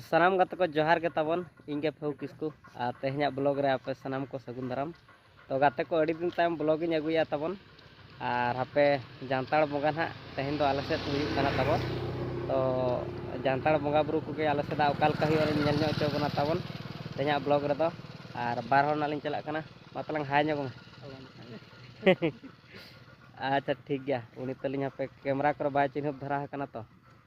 ᱥᱟᱱᱟᱢ ᱜᱟᱛᱮ ᱠᱚ ᱡᱚᱦᱟᱨ ᱜᱮ ᱛᱟᱵᱚᱱ ᱤᱧ ᱜᱮ ᱯᱷᱮᱣ ᱠᱤᱥᱠᱩ ᱟᱨ ᱛᱮᱦᱮᱧᱟᱜ ᱵᱞᱚᱜ ᱨᱮ ᱟᱯᱮ ᱥᱟᱱᱟᱢ ᱠᱚ ᱥᱟᱹᱜᱩᱱ ᱫᱟᱨᱟᱢ ᱛᱚ ᱜᱟᱛᱮ ᱠᱚ ᱟᱹᱰᱤ ᱫᱤᱱ ᱛᱟᱭᱚᱢ ᱵᱞᱚᱜ ᱤᱧ ᱟᱹᱜᱩᱭᱟ ᱛᱟᱵᱚᱱ ᱟᱨ ᱦᱟᱯᱮ ᱡᱟᱱᱛᱟᱲ ᱵᱚᱸᱜᱟ ᱱᱟᱦᱟᱜ ᱛᱮᱦᱮᱧ ᱫᱚ ᱟᱞᱮ ᱥᱮᱫ ᱦᱩᱭᱩᱜ ᱠᱟᱱᱟ ᱛᱟᱵᱚᱱ ᱛᱚ ᱡᱟᱱᱛᱟᱲ ᱵᱚᱸᱜᱟ ᱵᱩᱨᱩ ᱠᱚᱜᱮ ᱟᱞᱮ ᱥᱮᱫᱟᱜ ᱚᱠᱟ ᱞᱮᱠᱟ ᱦᱩᱭᱩᱜᱼᱟ ᱧᱮᱞ ᱧᱚᱜ ᱦᱚᱪᱚ ᱵᱚᱱᱟ ᱛᱟᱵᱚᱱ ᱛᱮᱦᱮᱧᱟᱜ ᱵᱞᱚᱜ ᱨᱮᱫᱚ ᱟᱨ ᱵᱟᱨ ᱦᱚᱲ ᱱᱟᱜ ᱞᱤᱧ ᱪᱟᱞᱟᱜ ᱠᱟᱱᱟ ᱢᱟ ᱛᱟᱞᱟᱝ ᱦᱟᱭ ᱧᱚᱜ ᱢᱮ ᱟᱪᱪᱷᱟ ᱴᱷᱤᱠ ᱜᱮᱭᱟ ᱩᱱᱤ ᱛᱟᱹᱞᱤᱧ ᱦᱟᱯᱮ ᱠᱮᱢᱮᱨᱟ ᱠᱚᱨᱮ ᱵᱟᱭ ᱪᱤᱱᱦᱟᱹᱯ ᱫᱷᱟᱨᱟ ᱟᱠᱟᱱᱟ ᱛᱚ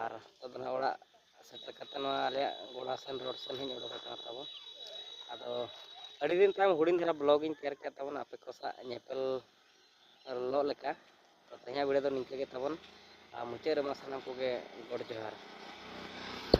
ᱟᱨ ᱱᱤᱛᱚᱜ ᱫᱚ ᱱᱟᱦᱟᱜ ᱚᱲᱟᱜ ᱥᱮᱴᱮᱨ ᱠᱟᱛᱮ ᱱᱚᱣᱟ ᱟᱞᱮᱭᱟᱜ ᱜᱚᱲᱟ ᱥᱮᱱ ᱨᱳᱰ ᱥᱮᱱ ᱦᱚᱧ ᱚᱰᱚᱠ ᱟᱠᱟᱱᱟ ᱛᱟᱵᱚᱱ ᱟᱫᱚ ᱟᱹᱰᱤ ᱫᱤᱱ ᱛᱟᱭᱚᱢ ᱦᱩᱰᱤᱧ ᱫᱷᱟᱨᱟ ᱵᱞᱚᱜ ᱤᱧ ᱛᱮᱭᱟᱨ ᱠᱮᱫ ᱛᱟᱵᱚᱱᱟ ᱟᱯᱮ ᱠᱚ ᱥᱟᱶ ᱧᱮᱯᱮᱞ ᱞᱚᱜ ᱞᱮᱠᱟ ᱛᱮᱦᱮᱧᱟᱜ ᱵᱷᱤᱰᱤᱭᱳ ᱫᱚ ᱱᱤᱝᱠᱟᱹ ᱜᱮ ᱛᱟᱵᱚᱱ ᱟᱨ ᱢᱩᱪᱟᱹᱫ ᱨᱮᱢᱟ ᱥᱟᱱᱟᱢ ᱠᱚᱜᱮ ᱜᱚᱰ ᱡᱚᱦᱟᱨ